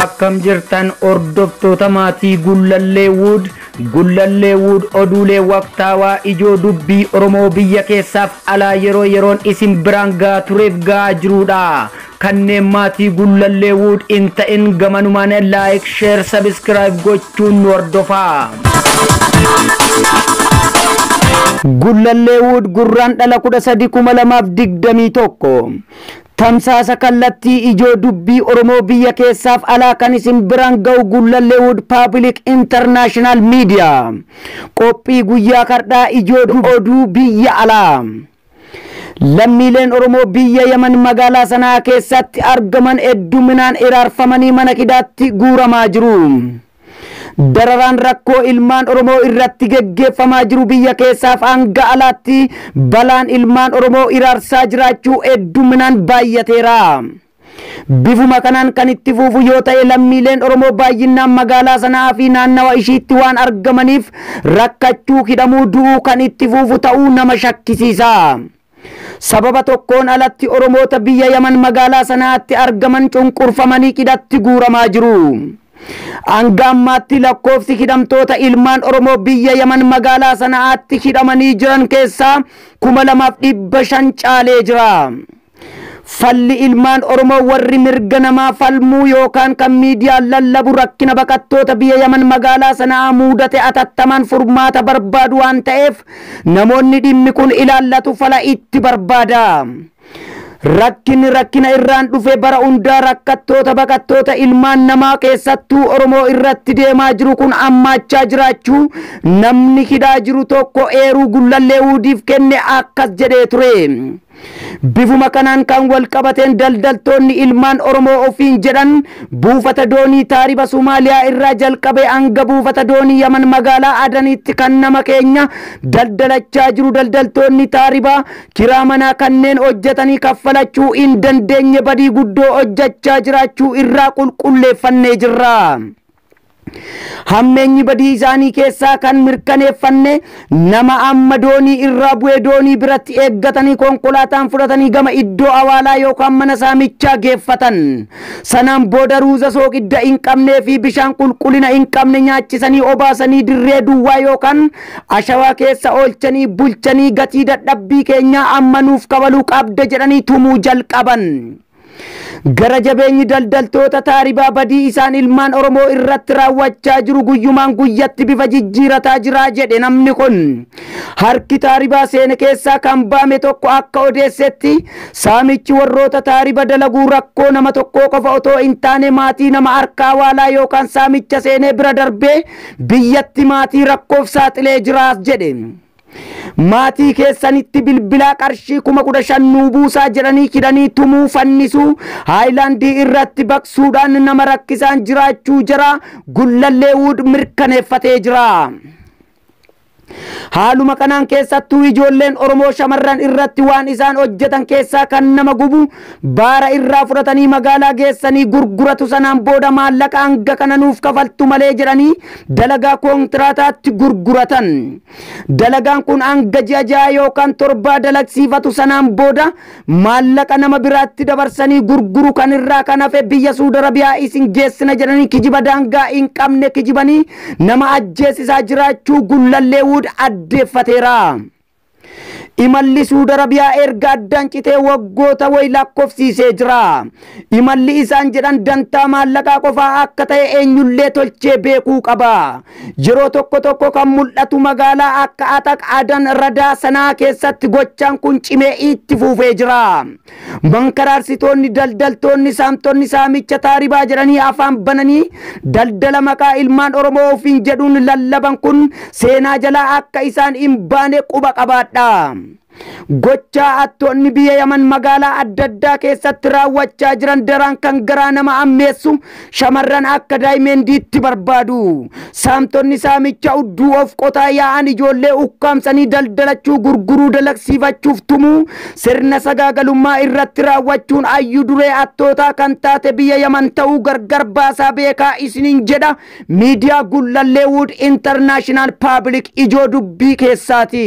akkam jirtan hordoftoota maatii gullallee wuud gullallee wuud oduulee waqtaawaa ijoo dubbii oromoo biyya keessaaf alaa yeroo yeroon isin biraan gahaa tureef gahaa jiruudha Kanneen maatii Gullallee Wood hin ta'in gamanumaan like, share, subscribe gochuun nu hordofaa. Gullallee Wood Gurraandhala 13/2021 Tamsaasa kallattii ijoo dubbii Oromoo biyya keessaaf alaa kan isin biraan ga'u Gullallee Wood Paabilik Intarnaashinaal Miidiyaa. Qophii guyyaa kardhaa ijoo oduu biyya alaa. Lammiileen Oromoo biyya Yaman magaalaa Sana'aa keessaatti argaman hedduminaan hiraarfamanii mana hidhaatti guuramaa jiru. Dararaan rakkoo ilmaan Oromoo irratti geggeeffamaa jiru biyya keessaaf hanga alaatti balaan ilmaan Oromoo hiraarsaa jiraachuu hedduminaan baay'ateera. Bifuma kanaan kan itti fuufu yoo ta'e lammiileen Oromoo baayyinnaan magaalaa Sana'aa fi naannawa ishiitti waan argamaniif rakkachuu, hidhamuu, du'uu kan itti fuufu ta'uu nama shakkisiisa. Sababa tokkoon alatti Oromoota biyya Yaman magaalaa Sana'aatti argaman cunqurfamanii hidhatti guuramaa jiru. Hanga ammaatti lakkoofsi hidhamtoota ilmaan Oromoo biyya Yaman magaalaa Sana'aatti hidhamanii jiran keessaa 2500 caalee jira. Falli ilmaan Oromoo warri mirga namaa falmuu yookaan kan miidiyaan lallabu rakkina baqattoota biya Yaman magaalaa Sana'aa muudate atattamaan furmaata barbaadu waan ta'eef namoonni dhimmi kun ilaallatu fala itti barbaada. Rakkinni rakkina irraan dhufe bara hundaa rakkattoota baqattoota ilmaan namaa keessattuu Oromoo irratti deemaa jiru kun ammaachaa jiraachuu namni hidhaa jiru tokko eeruu gullallee wuudiif kenne akkas jedhee ture. Bifuma kanaan kan walqabateen daldaltoonni ilmaan Oromoo ofiin jedhan buufata doonii taariba Sumaaliyaa irraa jalqabee hanga buufata doonii Yaman magaalaa Adaniitti kan nama keenya daldalachaa jiru daldaltoonni taaribaa kiraa manaa kanneen hojjetanii kaffalachuu hin dandeenye badii guddoo hojjechaa jiraachuu irraa qulqulleeffannee jirra. Hammeenyi badii isaanii keessaa kan mirkaneeffanne nama amma doonii irraa bu'e doonii biratti eeggatanii konkolaataan fudhatanii gama iddoo awaalaa yookaan mana saamichaa geeffatan. Sanaan booda ruuza sooqidda hin qabnee fi bishaan qulqullina hin qabne nyaachisanii obaasanii dirree duwwaa yookaan ashawaa keessa oolchanii bulchanii gatii dadhabbii keenyaa amma nuuf kabaluu qabda jedhanii tumuu jalqaban. Gara jabeenyi daldaltoota taaribaa badii isaan ilmaan Oromoo irratti raawwachaa jiru guyyumaan guyyatti bifa jijjiirataa jira jedhe namni kun. Harki taaribaa seene keessaa kan baame tokko akka odeessetti saamichi warroota taariba dalaguu rakkoo nama tokkoo qofa otoo hin taane maatii nama harkaa waalaa yookaan saamicha seenee bira darbee biyyatti maatii rakkoof saaxilee jiraas jedhe. Maatii keessanitti bilbilaa qarshii kuma kudha shan nuu buusaa jedhanii hidhanii tumuu, fannisuu, haayilaandii irratti baqsuudhaan nama rakkisaan jiraachuu jara Gullallee Wood mirkaneeffatee jira. Haaluma kanaan keessattuu ijoolleen Oromoo shamarran irratti waan isaan hojjetan keessaa kan nama gubu Baara irraa fudhatanii magaalaa geessanii gurguratu sanaan booda maallaqa hanga kana nuuf kafaltu malee jedhanii dalagaa koontraataatti gurguratan. Dalagaan kun hanga ji'a ja'a yookaan torbaa dalagsiifatu sanaan booda maallaqa nama biraatti dabarsanii gurguru kan irraa kan hafe biyya Suud Arabiyaa isin geessina jedhanii kijiba daangaa hin qabne kijibanii nama ajjeesisaa jiraachuu Gullallee Wood addeeffateera. Imalli Suud Arabiyaa erga addaan citee waggoota wayi lakkofsiisee jira. Imalli isaan jedhan dantaa maallaqaa qofaa akka ta'e eenyullee tolchee beekuu qaba. Yeroo tokko tokko kan mul'atu magaalaa akka Ataq, Adan, Radaa, Sanaa keessatti gochaan kun cimee itti fuufee jira. Mankaraarsitoonni, daldaltoonni, saamtonni saamicha taaribaa jedhanii afaan bananii daldala maqaa ilmaan Oromoo ofiin jedhuun lallaban kun seenaa jalaa akka isaan hin baane quba qabaadhaa. Gochaa attoonni biyya Yaman magaalaa adda addaa keessatti raawwachaa jiran daraan kan garaa nama ammeessu Shamarran akka daayimendiitti barbaadu. Saamtonni saamicha udduu of qotaa yaa'an ijoollee ukkaamsanii daldalachuu, gurguruu, dalagsiifachuuf tumuu, sirna sagaagalummaa irratti raawwachuun ayyu duree hattootaa kan taate biyya Yaman ta'uu gargar baasaa beekaa isiniin jedha Miidiyaa Gullallee Wood International Public ijoo dubbii keessaati.